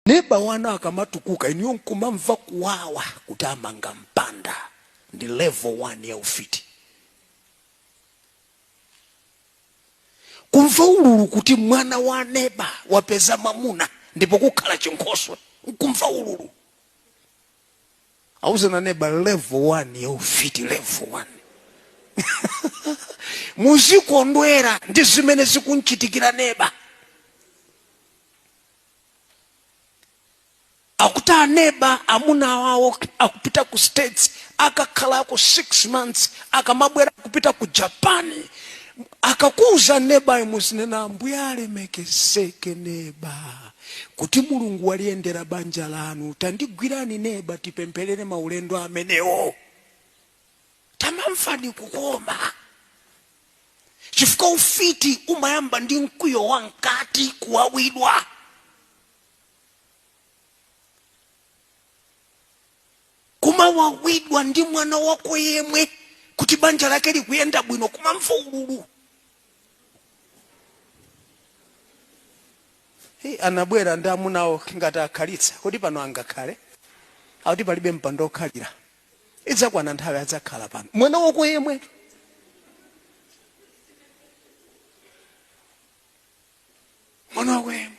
Neba wanu akamatukuka inuyo nkumamva kuwawa kuti amanga mpanda ndi level 1 ya ufiti. Kumva ululu kuti mwana wa neba wapeza mwamuna ndipo kukhala chinkhoswe nkumva ululu. Auzeni aneba level 1 ya ufiti level 1. Muzikondwera ndi zimene zikumchitikira neba. akuti aneba amuna awawo akupita ku states akakhalako six months akamabwera akupita ku japani akakuuza nebayo muzinena ambuye alemekezeke neba kuti mulungu waliyendera banja lanu tandigwirani neba tipempherere maulendo amenewo tamamvani kukoma chifukwa ufiti umayamba ndi mkwiyo wa mkati kuwawidwa kumawawidwa ndi mwana wako yemwe kuti banja lake likuyenda bwino kumamva ululu anabwera ndi amunawo ngati akhalitsa kuti pano angakhale akuti palibe mpando okhalira idzakwana nthawi adzakhala pano mwana wako yemwe mwana wako yemwe